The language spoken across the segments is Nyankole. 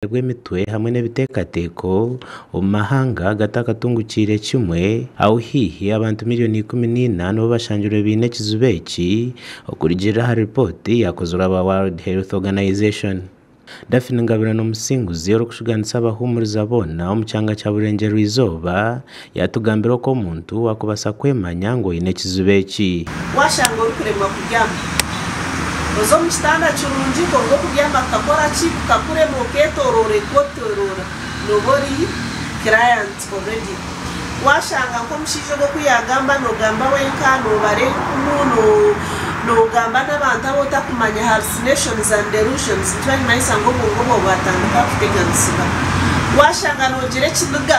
kuteerwa emitwe hamwe n'ebiteekateeko omu mahanga agatakatungukiire kimwe, ahu haihi abantu milioni ikumi na ina nibo bashangirwe baine ekizibu eki, okurugiirira ahari ripooti yaakozirwe aba World Health Organization. Daphne Ngabirano Musinguzi orikushuganisa abahumuriza boona omu kyanga kya Burengyerwa-izooba, Yaatugambira oku omuntu waakubaasa kwemanya ngu oine ekizibu eki. Waashanga orikuremwa kubyama, oze omu kitanda kirungi kwonka okubyama kukakora ki? Kukakurema okeetooroorerwa otooroora nooba ori client already. Waashanga nk'omushaija ogwo ku yaagamba noogamba wenka, noobara enkumu, noogamba n'abantu abu otakumanya, hallucinations and delusions, nikyo barimanyisa ngu obwongo bwawe bwatandika kuteganisiba. Waashanga noogira ekiniga.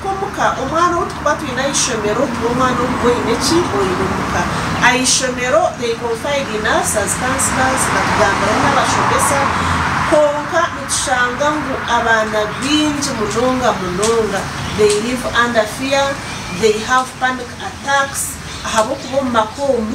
Nk'omuka, omwana ou turikuba twine aha ishomero tiwe mwana ogwo oine eki? Oine omuka. Aha ishomero, they confide in us as counsellors, batugambiraho n'abashomesa. Kwonka nitushanga ngu abaana baingi munonga munonga, they live under fear, they have panic attacks ahabw'okuba omu maka omu,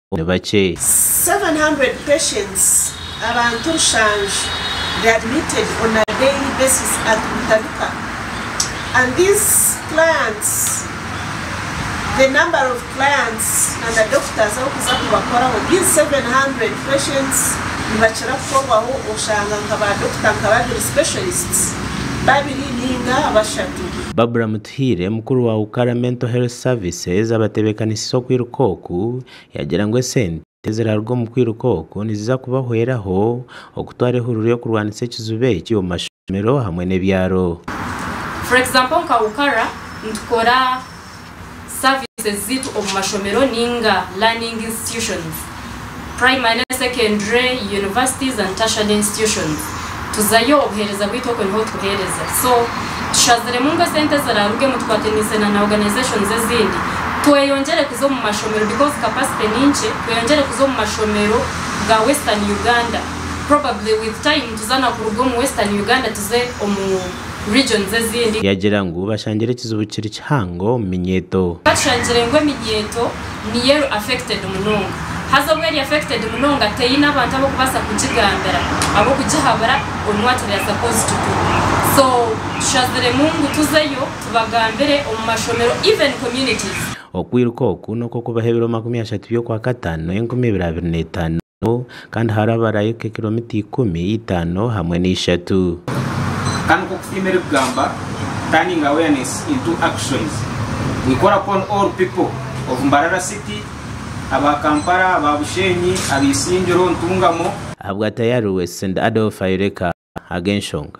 ni bakye. 700 patients abantu rushanju they admitted on a daily basis at Butabika and these clients the number of clients na na doctors abarikuza kubakoraho these 700 patients nibakira kukorwaho oshanga nka ba doctor nka babiri specialists babiri ninga bashatu. Barbra Mutebi. Tuhiire, mukuru wa Ukara Mental Health Services abatebekanisize okwiruka oku, yagira ngu esente eziraruga omu kwiruka oku niziza kubahweraho okutwara ehururu y'okurwanisa ekizibu eki omu mashomero hamwe n'ebyaro. For example nka Ukara nitukora services ziitu omu mashomero ninga learning institutions. primary, secondary, universities and tertiary institutions tuzayo obuhereza bwaitu okwe niho tuhereza so tushaziremu ngu esente zirarugemu tukwatenise na na organizations ezindi tweyongyere kuza omu mashomero because capacity ninkye tweyongyere kuza omu mashomero ga western Uganda probably with time tuza nakuruga omu western Uganda tuze omu regions ezindi. Yagira ngu bashangire ekizibu kiri kihango omu minyeeto. Batushangire ngu eminyeeto niyo eri affected munonga haza obu eri affected munonga teyine abantu abokubasa kugigambira abokugihabura omu what they are supposed to do so tushaziremu ngu tuzeyo tubagambire omu mashomero even communities. Okwiruka oku n'okwokubaho ebiro makumi ashatu by'okwakatano enkumi ibiri abiri n'etaano. Abo kandi haraabarayo nka kilomita ikumi, itaano hamwe na ishatu. Ka nikwo kusiima erikugamba Turning Awareness into Actions. We call upon all people of Mbarara City, aba Kampala, aba Bushenyi, aba Isingiro, Ntungamo, Ahabwa Tayari West St Adolf Ayoleka ag'enshonga.